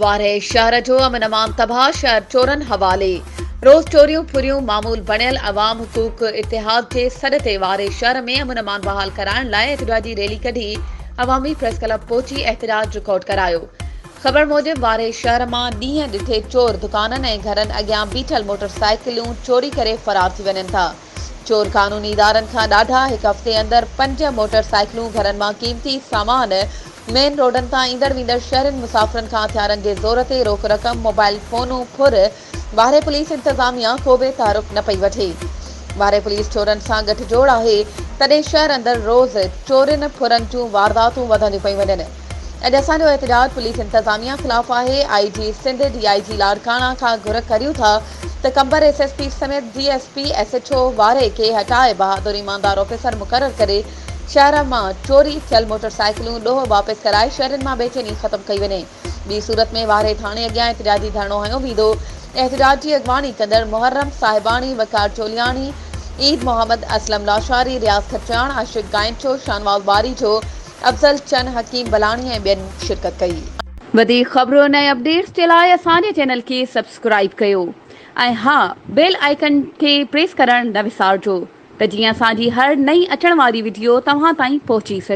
وارهه شهر جو امن امان تباهه شهر چورن حوالي روز چوريون ڦريون معمول بڻيل عوام حقوق اتحاد جي سڏ تي وارهه شهر ۾ امن امان بحال ڪرائڻ لاء احتجاجي ريلي ڪڍي عوامي پريس ڪلب پهچي احتجاج رڪارڊ ڪرايو خبر موجب وارهي شهر مان ڏينهن ڏٺي چور دڪانن ۽ گهرن اڳيان بيٺل موٽر سائيڪليون چوري ڪري فرار ٿي وڃن ٿا. چور قانوني ادارن کان ڏاڍا هڪ هفتي اندر پنج موٽر سائيڪلون گهرن مان قيمتي سامان مين روڊن تان ايندڙ ويندڙ شهرين مسافرن کان هٿيارن جي زور تي روڪ رقم موبائل فونون ڦر وارهي پوليس انتظاميا ڪو به تعارف نه پئي وٺي. وارهي پوليس چورن سان ڳٺ جوڙ آهي تڏهن شهر اندر روز چورين ڦرن جون وارداتون وڌنديون پيون وڃن. اڄ اسان جو احتجاج پوليس انتظاميا خلاف آهي، آء جي سنڌ ڊي آء جي لاڙڪاڻا کان گهر ڪريون ٿا ته قمبر ايس ايس پي سميت D S P S H O وارهي کي هٽائي بهادر ايماندار آفيسر مقرر ڪري شهر مان چوري ٿيل موٽرسائيڪلون ڏوهه واپس ڪرائي شهرين مان بيچيني ختم ڪئي وڃي. ٻي صورت ۾ وارهي ٿاڻي اڳيان احتجاجي ڌرڻو هنيو ويندو. احتجاج جي اڳواڻي ڪندڙ محرم صاحباڻي، وقار چولياڻي، عيد محمد، اسلم لاشاري، رياض کٽياڻ، عاشق گائنچو، شاهنواز ٻاريجو، افضل چن، حڪيم بلاڻي ۽ ٻين شرڪت ڪئي. وڌيڪ خبرن ۽ اپڊيٽس جي لاء اسان جي چينل کي سبسڪرائيب ڪيو ۽ ها بيل آئيڪن کي پريس ڪرڻ نه وسارجو ته جيئن اسان جي هر نئين اچڻ واري وڊيو توهان تائين پهچي سگهي.